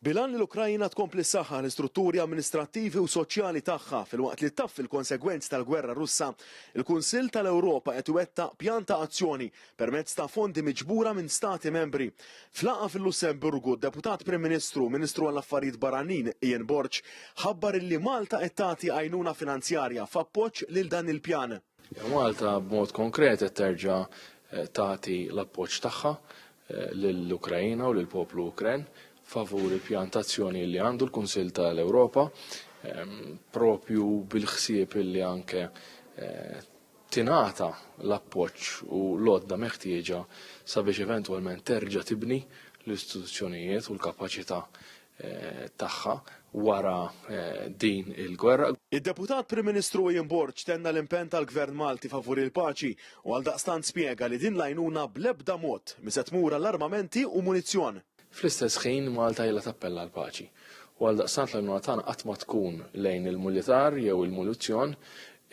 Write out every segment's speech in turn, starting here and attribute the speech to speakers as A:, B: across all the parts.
A: Bil-għan li l-Ukraina tkompli ssaħħaħ l-istrutturi amministrattivi u soċjali tagħha filwaqt li ttaffi l-konsegwenzi tal-gwerra Russa, il-Kunsill tal-Ewropa qed iwettaq pjan ta' azzjoni permezz ta' fondi miġbura minn Stati Membri. F'laqgħa fil-Lussemburgu, d-Deputat Prim Ministru u Ministru għall-Affarijiet Barranin Ian Borg ħabbar illi Malta qed tagħti għajnuna finanzjarja f'appoġġ lil dan il-pjan. Malta
B: b'mod konkret qed terġa' eh, tagħti l-appoġġ tagħha eh, lill-Ukrajina u lill-poplu Ukren favur il-pjantazzjoni li għandu l-Kunsill tal-Ewropa ehm, propju bil-ħsieb li anke eh, tingħata l-appoġġ u l-għodda meħtieġa sabiex eventwalment terġa' tibni l-istituzzjonijiet u l-kapaċità tagħha wara din il-gwerra. Id-Deputat Prim
A: Ministru Ian Borg tenna l-impenn tal-Gvern Malti favur il-paċi u għaldaqstant spjega li din l-għajnuna bl-ebda mod mhi se tmur għal armamenti u munizzjon. Fl-istess ħin
B: Malta ilha tappella għall-paċi u għaldaqstant l-għajnuna tagħna qatt ma tkun lejn il-mulitar jew il-munizzjon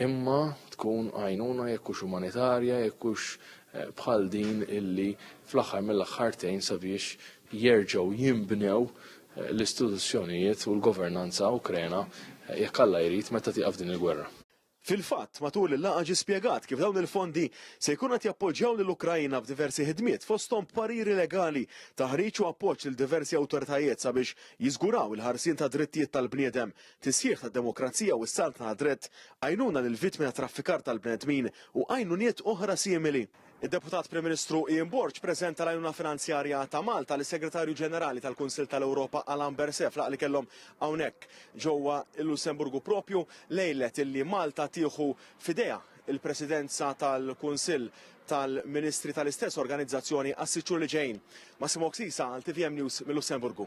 B: imma tkun għajnuna jekk hux umanitarja, jekk hux bħal din illi fl-aħħar mill-aħħar tgħin sabiex jerġgħu jinbnew eh, l-istituzzjonijiet u l-governanza Ukrena eh, jekk Alla jrid meta tieqaf din il-gwerra. Fil-fatt, matul
A: il-laqgħa ġie spjegat kif dawn il-fondi se jkun qed jappoġġjaw lil Ukrajina f'diversi ħidmiet fosthom pariri legali, taħriġ u appoġġ lil diversi awtoritajiet sabiex jiżguraw il-ħarsien ta' drittijiet tal-bniedem, tisħiħ tad-demokrazija u s-saltna ta' dritt, għajnuna lil vittmi ta' traffikar tal-bnedmin u għajnuniet oħra simili. Id-Deputat Prim Ministru Ian Borg preżenta l-għajnuna finanzjarja ta' Malta lis-Segretarju Ġenerali tal-Kunsill tal-Ewropa Alain Berset f'laqgħa li kellhom hawnhekk ġewwa l-Lussemburgu propju lejlet illi Malta tieħu f'idejha l-Presidenza tal-Kunsill tal-Ministri tal-istess organizzazzjoni għas-sitt xhur li ġejjin. Massimo Oksisa għal tvm News mil-Lussemburgu.